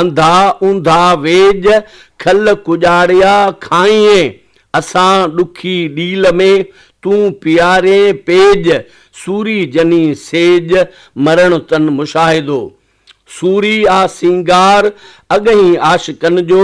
انڌا اونڌا ويڄ کل ڪڄاڙيا کائينء اسان ڏکي ڏيل ۾، تون پيارين پيڄ سوري جني سيڄ مرڻ تن مشاهدو. سوري آ سينگار اڳهين عاشقن جو،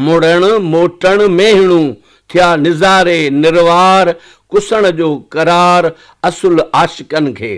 مڙڻ موٽڻ ميهڻون ٿيا نظاري نروار ڪسڻ جو قرار اصل عاشقن کي.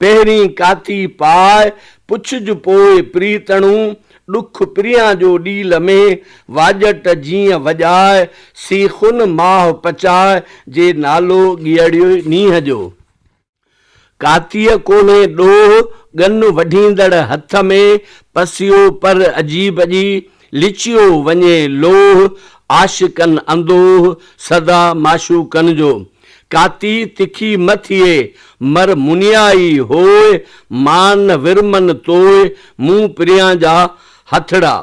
پهرين ڪاتي پاء، پڇج پوء پريتڻو، ڏک پريان جو ڏيل ۾، واڄٽ جيئن وڄاء، سي خون ماهه پچاء، جي نالو ڳيئڙيو نينهن جو. ڪاتيء ڪولهي ڏوهه، ڳن وڍيندڙ هٿ ۾، پسيو پر عجيب ڄي، لچيو وڃي لوهه، عاشقن اندوهه، سدا معشوقن جو. ڪاتي تکي مه ٿئي، مر منيائي هوء، مان ورمن توء، مون پريان جا هٿڙا.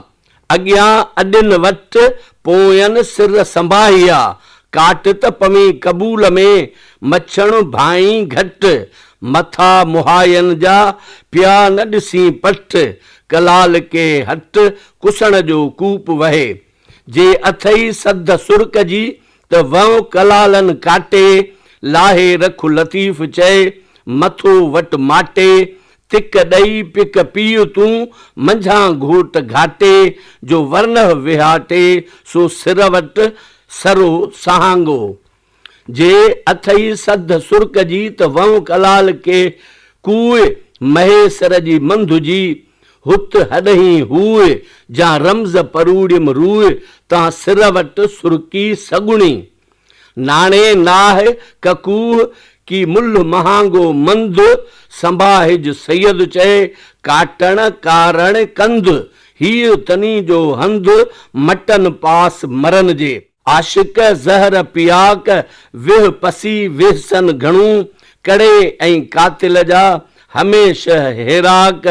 اڳيان اڏين وٽ، پوئين سر سنباهيا، ڪاٽ ته پوين قبول ۾، مڇڻ ڀائين گهٽ، مٿا مهاين جا، پيا نه ڏسين پٺ، ڪلال ڪي هٽ، ڪسڻ جو ڪوپ وهي. جي اٿئي سڌ سر ڪجي ته وئو ڪلالن ڪاٽي، لاهي رک لطيف چئي، مٿو وٽ ماٽي، تڪ ڏئي پڪ پيء تون، منجهان گهوٽ گهاٽي، جو ورنه وهاٽي، سو سر وٽ سرو سهانگو، جي اٿئي سڌ سرڪ جي ته وهنء ڪلال ڪي ڪوء مهي سر جي منڌ جي هت هڏهين هوء جا رمز پروڙيم روء تان سر وٽ سرڪي سڳڻي ناڻي ناهه ڪڪوه ڪي ملهه مهانگو منڌ سنباهج سيد چئي ڪاٽڻ ڪارڻ ڪنڌ هيء تني جو هنڌ مٽن پاس مرن جي عاشق زهر پياڪ، ويهه پسي ويهسن گهڻو، ڪڙي ۽ قاتل جا، هميشه هيراڪ،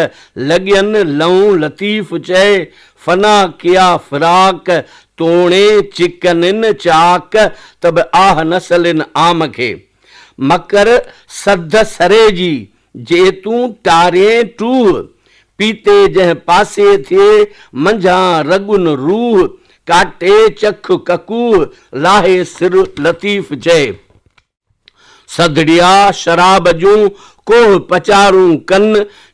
لڳين لئون لطيف چئي، فنا ڪيا فراق، توڻي چڪنين چاڪ، ته به آه نه سلين عام کي، مڪر سڌ سري جي، جي تون ٽارين ٽوه، پيتي جنهن پاسي ٿئي، منجهان رڳن روه، ڪاٽي چک ڪڪوه، لاهي سر لطيف چئي. سڌڙيا شراب جون، ڪوه پچارون ڪن،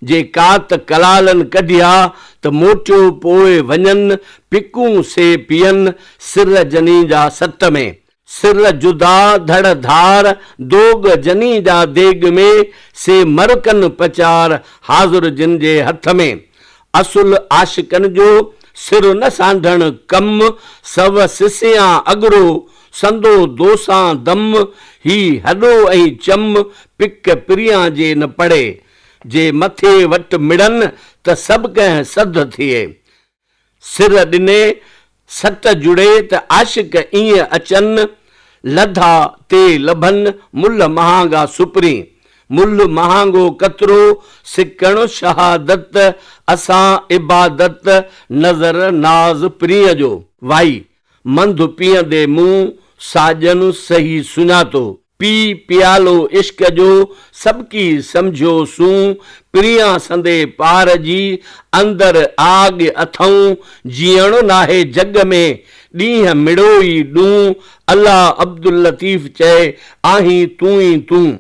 جي ڪات ڪلالن ڪڍيا، ته موٽيو پوء وڃن، پڪون سي پيئن، سر جنين جا ست ۾. سر جدا ڌڙ ڌار، دوڳ جني جا ديڳ ۾، سي مر ڪن پچار، حاضر جن جي هٿ ۾. اصل عاشقن جو، سر نه سانڍڻ ڪم، سو سسيان اڳرو، سندو دوسان دم، هي هڏو ۽ چم، پڪ پريان جي نه پڙي، جي مٿي وٽ مڙن، ته سڀ ڪنهن سڌ ٿئي. سر ڏني سٽ جڙي ته عاشق ايئن اچن، لڌا تي لڀن ملھ مهانگا سپرين، ملھ مهانگو قطرو سڪڻ شهادت، اسان عبادت نظر ناز پرينء جو. وائي، منڌ پيئندي مون ساڄن سهي سڃاتو، پي پيالو عشق جو سڀڪي سمجهيو سون، پريان سندي پار جي، اندر آڳ اٿئون، جيئڻو ناهي جڳ ۾، ڏينهن مڙوئي ڏون، الله عبداللطيف چئي، آهين تون ئي تون.